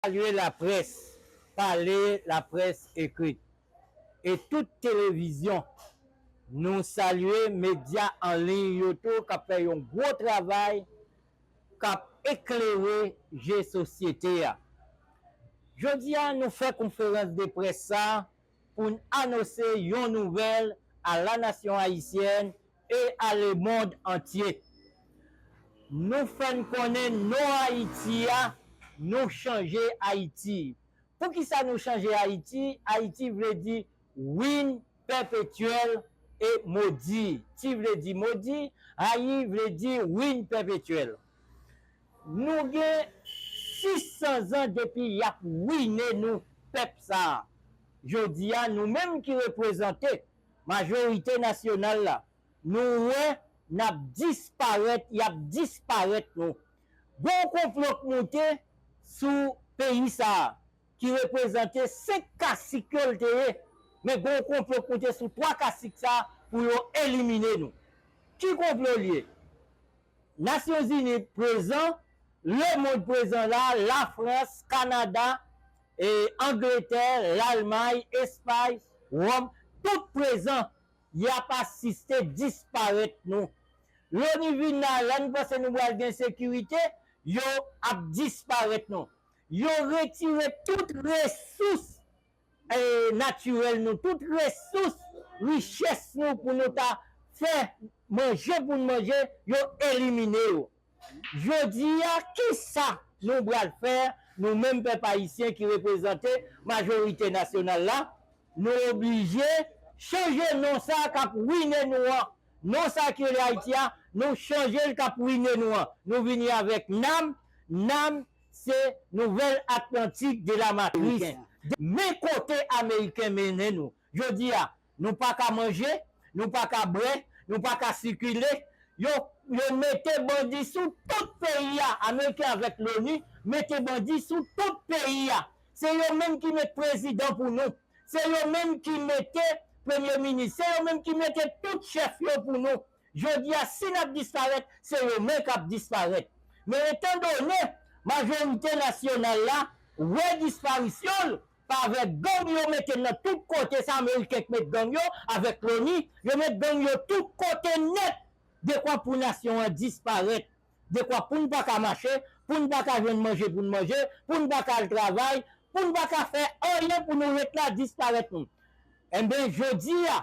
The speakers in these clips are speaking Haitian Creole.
Salye laprès pale, laprès ekrit e tout televizyon. Nou salye medya an liy yo tou k ap fè yon gwo travay k ap eklere je sosyete a. Jodi a nou fè konferans de près sa pou n anose yon nouvèl a la nasyon ayisyèn e a lemond antye. Nou fè n konnen non Ayiti a, nou chanje Ayiti. Poukisa nou chanje Ayiti? Ayiti vle di Win Pèpetyèl e Modi. Ti vle di modi, Ayi vle di Win Pèpetyèl. Nou gen 600 zan depi y ap wine nou pèp sa a. Jodi a, nou menm ki reprezante majorite nasyonal la, nou wè n ap disparèt, y ap disparèt nou. Gen yon konplo k moute sou peyi sa a ki reprezante 5 kasik yo l te ye, men gen yon konplo k moute sou 3 kasik sa a pou yo elimine nou. Ki konplo l ye? Nasyon Zini prezan, lemond prezan la, Lafrans, Kanada, Angletè, Lalmay, Espay, Wòm, tout prezan. Y ap asiste disparèt nou. Loni vin la, la nou panse nou pral gen sekirite, yo ap disparèt nou. Yo retire tout resous natirèl nou, tout resous, richès nou pou nou ta fè manje pou n manje, yo elimine yo. Jodi a, ki sa nou pral fè, nou menm pèp ayisyen ki reprezante majorite nasyonal la? Nou oblije chanje non sa k ap rwine nou an. Non sa ki rele Ayiti a, nou chanje l k ap rwine nou an. Nou vini avèk nam, nam, Se nouvèl Atlantic de la Matrice. Men kote Ameriken mennen nou. Jodi a, nou pa ka manje, nou pa ka bwè, nou pa ka sikile. Yo Yo mete bandi sou tout peyi a. Ameriken avèk Loni mete bandi sou tout peyi a. Se yo menm ki met prezidan pou nou. Se yo menm ki mete premye minis. Se yo menm ki mete tout chèf yo pou nou. Jodi a si n ap disparèt, se yo men k ap disparèt. Men etan done majorite nasyonal la wè disparisyon l pavè gang yo mete nan tout kote, se ameriken k met gang yo avèk loni, yo met gang yo tout kote nèt, dekwa pou nasyon an disparèt, dekwa pou n pa ka mache, pou n pa ka jwenn manje pou n manje, pou n pa ka al travay, pou n pa ka fè anyen pou nou ret la disparèt nou. Enben jodi a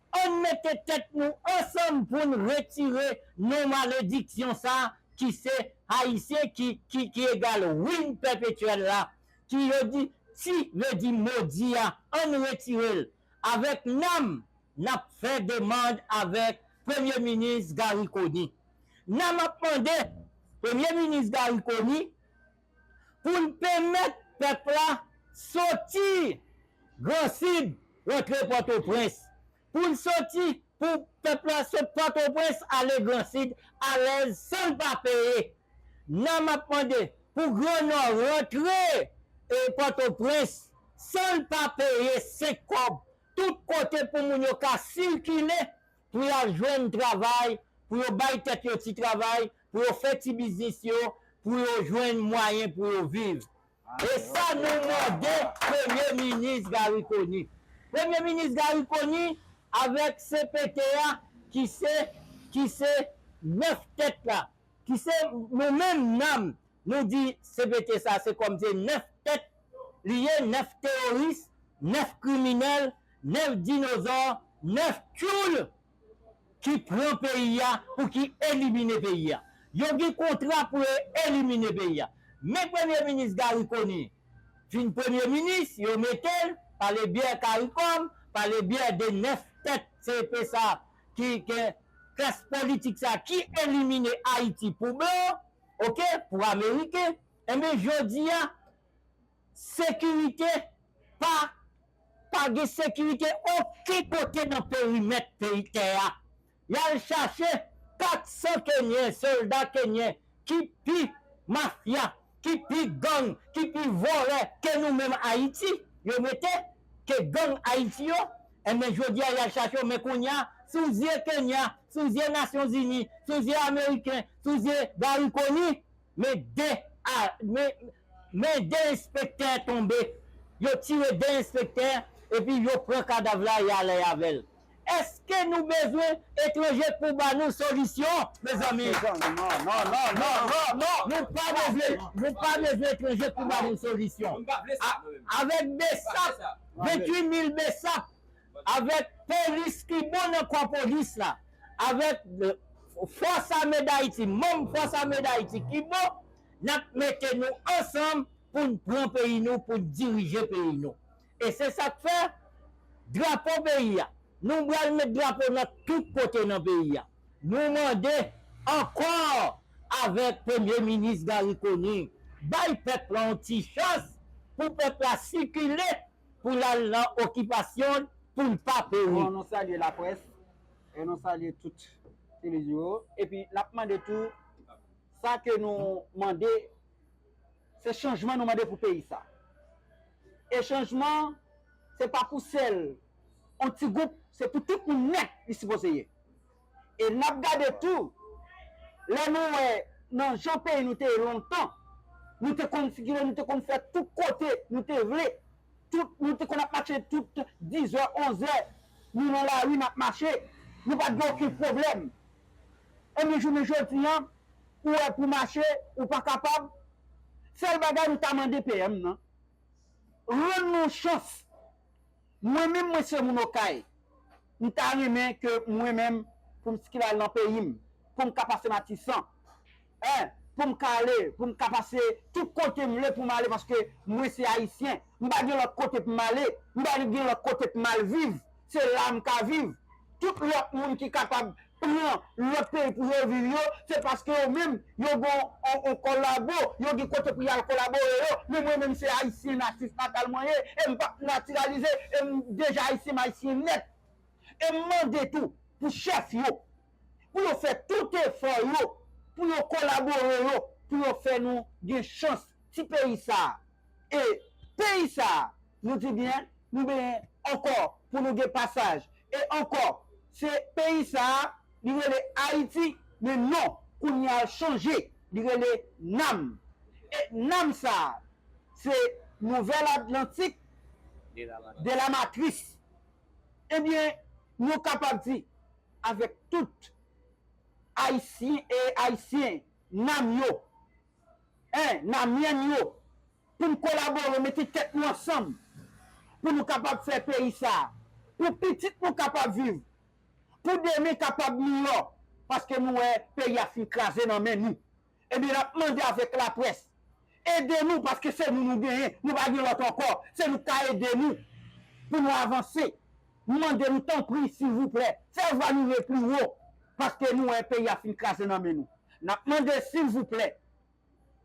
Ann mete tèt nou ansanm pou n retire non malediksyon sa ki se Ayisyen ki ki ki egal ruine perpetuelle la ki yo di ti vle di modi a ann retire l avèk nam n ap fè demand avèk premye minis Garry Conille nam ap mande premye minis Garry Conille pou n penmèt pèp la soti Gran Sid rantre Pòtoprens, pou n soti pou pèp la sot Pòtoprens ale Gran Sid alèz san l pa peye. Nan m ap mande pou Gran Nò rantre Pòtoprens san l pa peye senk kòb, tout kote pou moun yo ka sikile. pou y al jwenn travay, pou yo bay tèt yo ti travay, pou yo fè ti biznis yo, pou yo jwenn mwayen pou yo viv. E sa nou mande Premye Minis Garry Conille. Premye Minis Garry Conille avèk cpt a ki se ki se 9 tèt la, ki se nou menm nam Nou di cpt sa se kòm se 9 tèt li ye 9 teworis 9 kriminèl 9 dinozò 9 tchoul ki pran peyi a pou ki elimine peyi a yo gen kontra pou yo elimine peyi a men premye minis Garry Conille vin premye minis yo mete l pale byè karikòm pale byè de 9 tèt cpt sa ki gen klas politik sa ki elimine ayiti pou blan. Ok pou ameriken enben jodia sekirite pa pa gen sekirite oken kote nan perimèt peyi tè a yal chache 400 kenyen solda kenyen ki pi mafya ki pi gang ki pi vòlè ke nou menm ayiti yo mete ke gang ayiti yo. Enben jodia yal chache w men kounya sou zye Kenya, sou zye nasyon zini, sou zye ameriken, sou zye Garry Conille men 2 a men 2 enspektè tonbe yo tire 2 enspektè epi yo pran kadav la yale avèl eske nou bezwen etranje pou ba nou solisyon mezanmi nou pa bezwen nou pa bezwen etranje pou ba nou solisyon avèk bsap. 28 mil bsap avèk polis ki bon nan kò polis la avèk fòs ame dayiti manm fòs ame dayiti ki bon nap mete nou ansanm poun pran peyi nou poun dirije peyi nou e se sak fè drapo peyi a nou bal met drapo nan tout kote nan peyi a. Nou mande, ankò, avèk Premye Minis Garry Conille, bay pèp lan yon ti chans pou pèp la sikile pou l al nan okipasyon l pou l pa peri. Bon, nou salye laprès e nou salye tout televizyon yo. Epi n ap mande tou, sa ke nou mande, se chanjman nou mande pou peyi sa. E chanjman, se pa pou sèl yon ti gwoup, se pou tout moun nèt li sipoze ye. E n ap gade tou, lè nou wè nan jan peyi nou te ye lontan, nou te konn sikile, nou te konn fè tout kote nou te vle, tout, nou te konn ap mache tout dizè, onzè, nou nan lari n ap mache, nou pa t gen okenn pwoblèm. Enben jounen jodi an, ou wè pou mache, ou pa kapab. Sèl bagay nou ta mande PM nan, rann nou chans. Mwen menm mwen se moun okay m ta renmen ke mwen menm pou m ckil al nan peyi m pou m ka pase matisan en pou m ka ale pou m ka pase tout kote m vle pou m ale paske mwen se ayisyen m pa gen lòt kote pou m ale m pa gen lòt kote pou m al viv se la m ka viv tout lòt moun ki kapab pran lòt peyi pou yo viv yo se paske yo menm yo gon on kolabo yo gen kote pou yal kolabore yo men mwen menm se ayisyen natif natal mwen ye em pap natiralize em deja ayisyen m ayisyen nèt em mande tou pou chèf yo pou yo fè tout efò yo pou yo kolabore yo pou yo fè nou gen chans ti peyi sa e peyi sa Nou di byen, nou benyen ankò pou nou gen pasaj e ankò. Se peyi sa a, li rele Ayiti, men non kounye a l chanje, li rele Nam. E Nam sa a, se Nouvèl Atlantik de la Matris. Ebyen, nou kapab di avèk tout Ayisyen, Nam yo, Namyèn yo. pou n kolabore mete tèt nou ansanm pou nou kapab fè peyi sa pou pitit nou kapab viv pou demen kapab miyò paske nou wè peyi a fin kraze nan men nou ebyen n ap mande avèk laprès ede nou paske se nou nou genyen nou pa gen lòt ankò se nou k ka ede nou pou nou avanse m mande nou tanpri silvouplè fè vwa nou ye pli wo paske nou wè peyi a fin kraze nan men nou n ap mande silvouplè.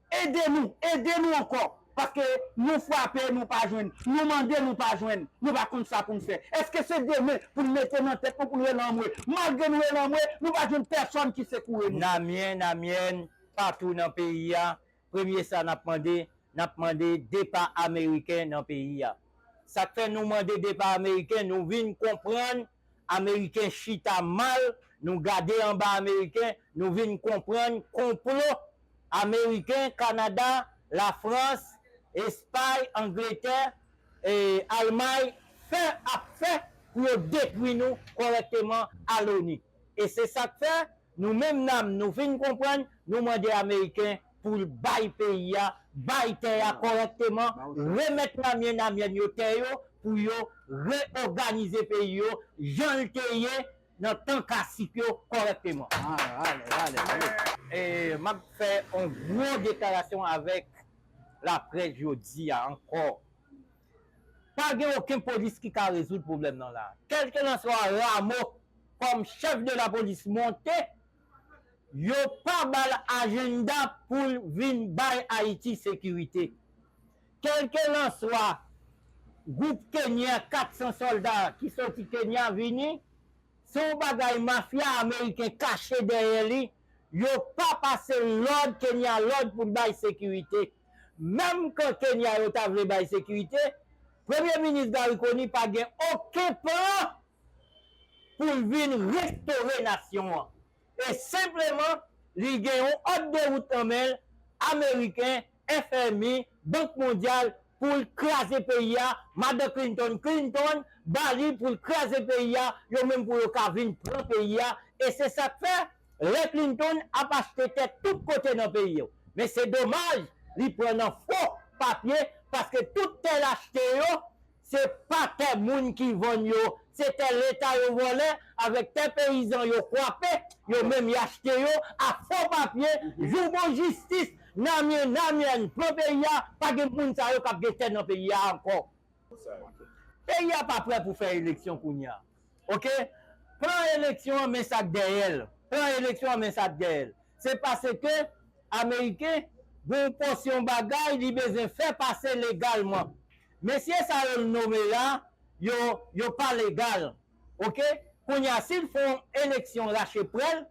Ede nou, ede nou ankò, paske nou frape nou pa jwenn, nou mande nou pa jwenn, nou pa konn sa pou n fè. Èske se demen pou n mete nan tèt nou pou n rele anmwe? Malgre nou rele anmwe, nou pa jwenn pèsòn ki sekoure nou. Namyen, Namyèn, patou nan peyi a, premye sa n ap mande, n ap mande depa ameriken nan peyi a. Sa k fè nou mande depa ameriken, nou vin konprann Ameriken chita mal nou gade anba ameriken nou vin konprann konplo ameriken kanada la frans espay angletè almay fè ap fè pou yo detwi nou kòrèkteman a loni e se sak fè Nou menm nam nou fin konprann nou mande ameriken poul bay peyi a bay tè a kòrèkteman remèt namyen namyèn yo tè yo pou yo re oganize peyi yo janl te ye nan tan kasik yo kòrèkteman. Map fè on gwo deklarasyon avèk laprès jodia ankò. Pa gen oken polis ki ka rezoud pwoblèm nan la. Kèlkelanswa Ramo kòm chèf de lapolis monte, yo pa ba l ajennda pou l vin bay Ayiti sekirite. Kèlkelanswa gwoup Kenyen 400 sòlda ki soti Kenya vini, se yon bagay mafya ameriken kache dèyè li, yo pa pase lòd Kenya lòd pou l bay sekirite. Menm kan Kenya yo ta vle bay sekirite, Premye Minis Garry Conille pa gen oken plan pou l vin restore nasyon an. E senpleman li gen yon òd de wout nan men l, Ameriken, FMI, Bank Mondyal, pou l kraze peyi a, Madan Clinton Clinton ba li pou l kraze peyi a, yo menm pou yo ka vin pran peyi a. E se sa k fè? Lè Clinton ap achte tè tout kote nan peyi yo. Men se domaj li pran nan fo papye paske tout tè l achte yo se pa tè moun ki vann yo, se tè leta yo vòlè avèk tè peyizan yo kwape, yo menm y achte yo a fo papye, jou bon jistis Namie Namian pran peyi a pa gen moun sa yo k ap gen tè nan peyi a ankò. Peyi a pa prè pou fè eleksyon kounya. Ok plan eleksyon an men sak dèyèl plan eleksyon an men sak dèyèl se paske ameriken gen yon pòsyon bagay li bezwen fè pase legalman mesye sa yo l nome la yo yo pa legal ok kounya sil fon eleksyon rache prèl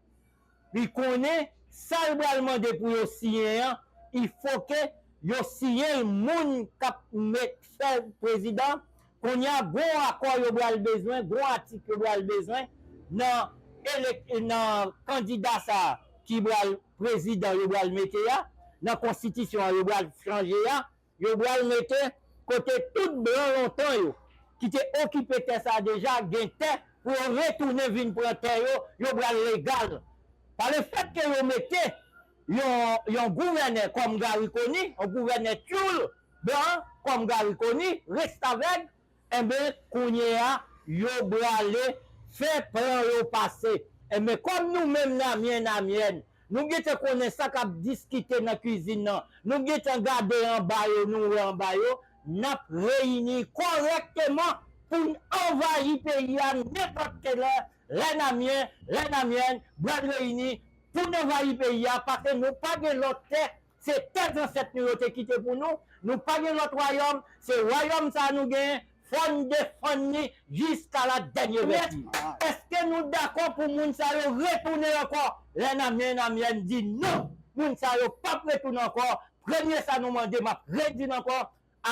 li konnen sa l pral mande pou yo siyen an i foke yo siyen l moun kap met fè l prezidan konnya gon akò yo pral bezwen gon atik yo pral bezwen nan elek nan kandida sa ki pral prezidan yo pral mete a nan konstitisyon an yo pral chanje a. Yo bral mete kote tout blan lontan yo ki te okipe tè sa deja gen tè pou yo retounen vin pran tè yo, yo bral legal. Pa le fèt ke yo mete yon yon gouvènè kòm Garry Conille, yon gouvènè tyoul blan an kòm Garry Conille, restavèg, Enben, kounyeya, yo brale fè plan yo pase. Enben, kòm nou menm Namyen, Namyèn, nou gen tan konnen sa k ap diskite nan kuizin nan, nou gen tan gade anba yo, nou wè anba yo, n ap reyini kòrèkteman pou n anvayi peyi a nenpòt ke lè, lè Namyen, lè Namyèn bral reyini pou n anvayi peyi a, pase nou pa gen lòt tè Se tè zansèt nou yo te kite pou nou, nou pa gen lòt wayòm, se wayòm sa a nou gen, fò n defann li jiska la dènye vèt. Mèt, èske nou dakò pou moun sa yo retounen ankò? Lèna men Namyèn di, Non! Moun sa yo p ap retounen ankò. Premye sa nou mande, m ap redi l ankò,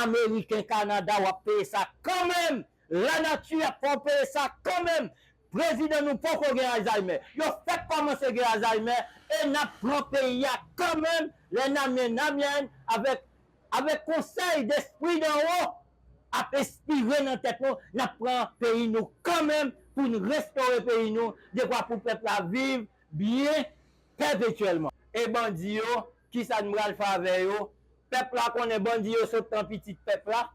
Ameriken Canada wap peye sa kanmenm la nati ap fè w peye sa kanmenm prezidan nou poko gen alzheimer yo fèk kòmanse gen alzheimer e nap pran peyi a kanmenm lè Namyen Namyèn avèk avèk konsèy despri dan wo ap espire nan tèt nou nap pran peyi nou kanmenm pou n restore peyi nou dekwa pou pèp la viv byen pèpetyèlman e bandi yo Kisa n pral fè avè yo? Pèp la konnen bandi yo sot nan pitit pèp la,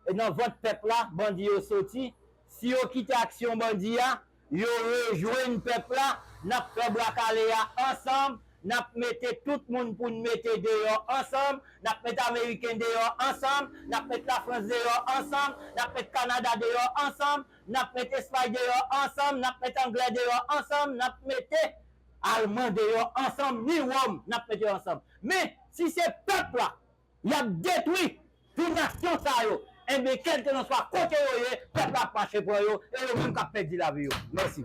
e nan vant pèp la bandi yo soti. Si yo kite aksyon bandi a, yo rejwenn pèp la, n ap fè bwa kale a ansanm, n ap mete tout moun pou n mete deyò ansanm, n ap met ameriken deyò ansanm, n ap met lafrans deyò ansanm, n ap met kanada deyò ansanm, n ap met espay deyò ansanm, n ap met anglè deyò ansanm, n ap mete Alman deyò ansanm ni Wòm n ap met yo ansanm. Men, si se pèp la y ap detwi pou nasyon sa yo, enben kèlkelanswa kote yo ye, pèp la ap mache pran yo e yo menm k ap pèdi lavi yo. Mèsi.